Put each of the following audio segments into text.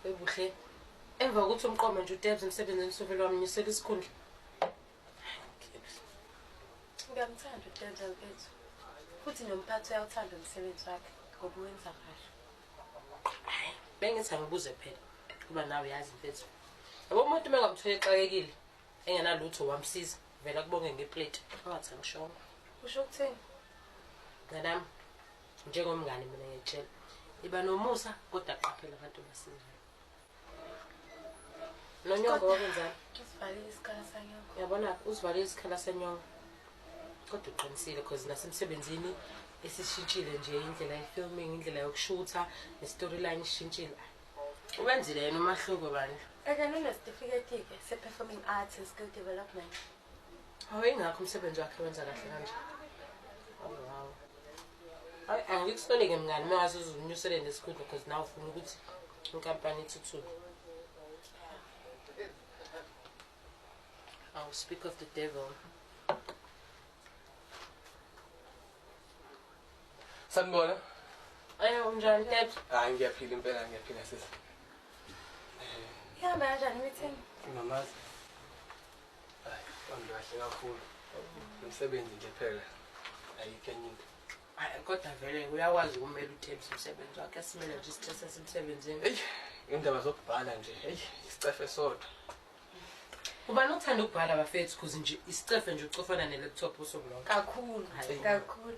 Webuhle. Emva kokuthi umqoma nje uTebs emsebenzini sovele wamnyusela isikhundla. Ngiyamthanda uTebs mfethu. Futhi nomphathi uyawuthanda umsebenzi wakhe ngoba uwenza kahle. Hayi, bengithi angibuze phela kuba nawe uyazi mfethu. Yabo umuntu uma ngamthola exakekile engenalutho wamsiza vela kubonge ngeplate angathi angishongo. Usho ukuthini? Nganami njengomngane mina ngiyitshela iba nomusa kodwa qaphela abantu abasingayo nonyoko wakwenzani yabona uzivalile isikhala senyongo kodwa uqinisile because nasemsebenzini esishintshile nje indlela ye-filming indlela yokushutha ne-storyline ishintshile wenzile yena umahluko bandla ake ninesitifiketi-ke se-performing arts and skill development Hawu ingakho umsebenzi wakhe wenza kahle kanje. Hawu hawu. Hayi angikusoneke mngani uma wazi uzunyusele nesikhundla because nawe ufuna ukuthi inkampani ithuthuke. I'll speak of the devil. Sanibona. Ayo unjani Ted? Hayi ngiyaphila impela ngiyaphila sisi. Ihamba kanjani meeting? Mamazi. Kahle kakhulu. Umsebenzi nje phela. Ayikho enye into. Hayi kodwa vele uyakwazi ukumela uThembi umsebenzi wakhe asimele nje isithethe semsebenzini. Hey, indaba zokubhala nje. Hey, isicefe sodwa. Ubani uthanda ukubhala bafethu kuze nje isicefe nje ucofana ne laptop usuku lonke. Kakhulu, kakhulu.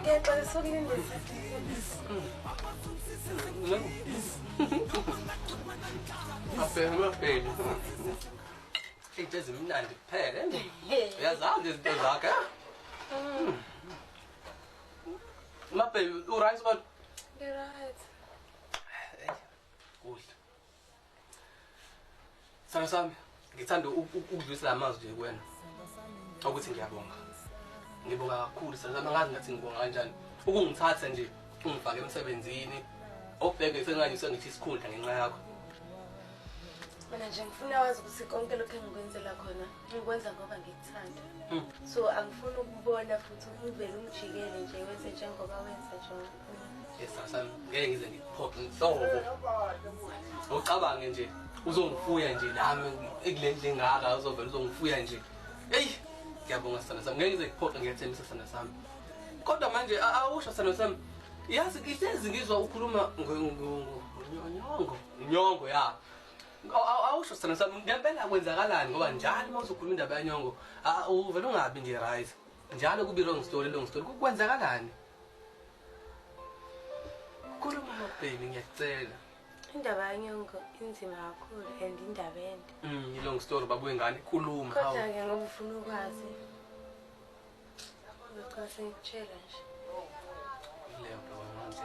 Ngiyaxolisa ukulinda Afeni afeni. Into ezimnandi kuphela. Uyazazi izinto zakhe. Mabhe, uright but Right. kuhle. Sithando sami, ngithanda ukudlulisa amazwi kuwena. Ukuthi ngiyabonga. Ngibonga kakhulu sithando sami angazi ngathi ngibonga kanjani. Ukungithatha nje ungifake emsebenzini obheke sengathi sengithi isikhundla ngenxa yakho. Mina nje ngifuna wazi ukuthi konke lokho engikwenzela khona ngikwenza ngoba ngikuthanda. Hmm. So angifuni ukubona futhi uvele ungijikele nje wenze njengoba wenza njengoba. esasami ngeke ngize ngikuphophe nhlobo ucabange nje uzongifuya nje nami ekule ndlu engaka uzovela uzongifuya nje eyi ngiyabonga sana sami ngeke ngize ngikuphophe ngiyathembisa sana sami kodwa manje awusho sana sami yazi ngihlezi ngizwa ukhuluma ngonyongo nyongo ya awusho sana sami ngempela kwenzakalani ngoba njalo uma uzokhuluma indaba yanyongo uvele ungabi nje right njalo kubi wrong story long story kwenzakalani Khuluma nobheni ngiyacela. Indaba yanyongo inzima kakhulu and indaba ende. Mm, long story babuye ngani khuluma. Kodwa ke ngoba ufuna ukwazi. Ngicela sengitshela nje. Leyo nto wamanje.